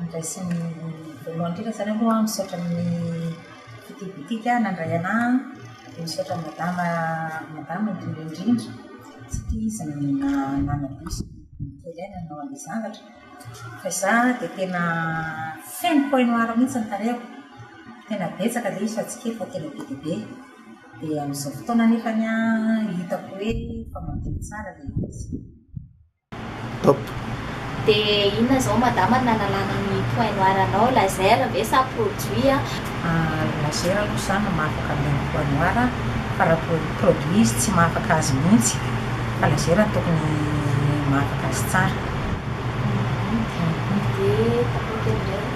Andraisany voalohany indrindra zany aloha aho misaotra ny Cité Boutique nandray anahy dia misaotra an'i Madama Madama indrindra indrindra satria izy no nanadino sy nanadino kely ahy nanao an'ilay zavatra fa izaho dia tena feno point noir mihintsy ny tarehiko, tena betsaka ilay izy fa tsy kely fa tena be dia be, dia amin'izao fotoana nefany an, hitako hoe efa madio tsara ilay izy. Top. Dia inona izao madama no nanalana ny point noir anao, laser ve sa produit an? Laser aloha izaho no mahafaka an'ilay ny point noir par rapport ny produit izy tsy mahafaka azy mihitsy fa laser no tokony mahafaka azy tsara. Dia tapakely indray.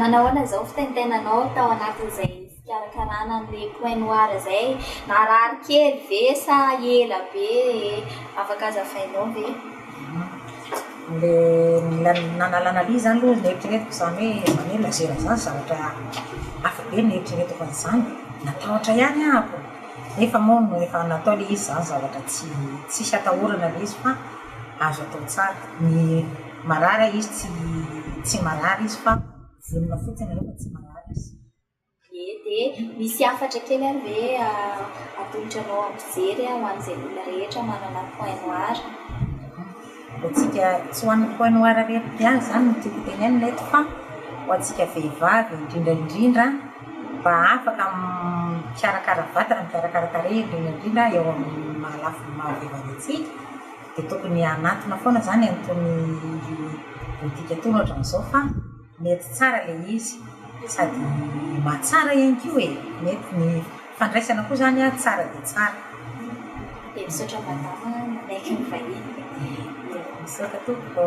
Nanao ahoana izao ny fitenitenanao tao anatin'izay? Fikarakarana an'ilay point noir izay e! Narary kely ve sa ela be e? Afaka azavainao ve? Ilay nanala an'alia izany aloha no eritreretiko izany hoe izany hoe laser izany zavatra hafa be no eritreretiko an'izany. Natahotra ihany aho ko, nefa moa no efa natao ilay izy izany zavatra tsy tsisy atahorana ilay izy fa azo atao tsara. Ny marary ilay izy tsy tsy marary izy fa vonona fotsiny aloha fa tsy marary izy. Ie dia misy hafatra kely ary ve atolotra anao hampijery ho an'izay olona rehetra manana point noir? Ho antsika tsy ho an'ny point noir rery ihany izany no tiako tenenina eto fa ho antsika vehivavy indrindra indrindra mba afaka mikarakara vatana, mikarakara tarehy indrindra indrindra eo amin'ny maha lafiny maha vehivavy antsika dia tokony hanatona foana izany an'itony politika itony ohatran'izao fa Mety tsara le izy sady mahatsara ihany koa e! Mety ny fandraisana koa zany a tsara dia tsara. Dia misaotra madama nanaiky nivahiny. Misaotra tompoko.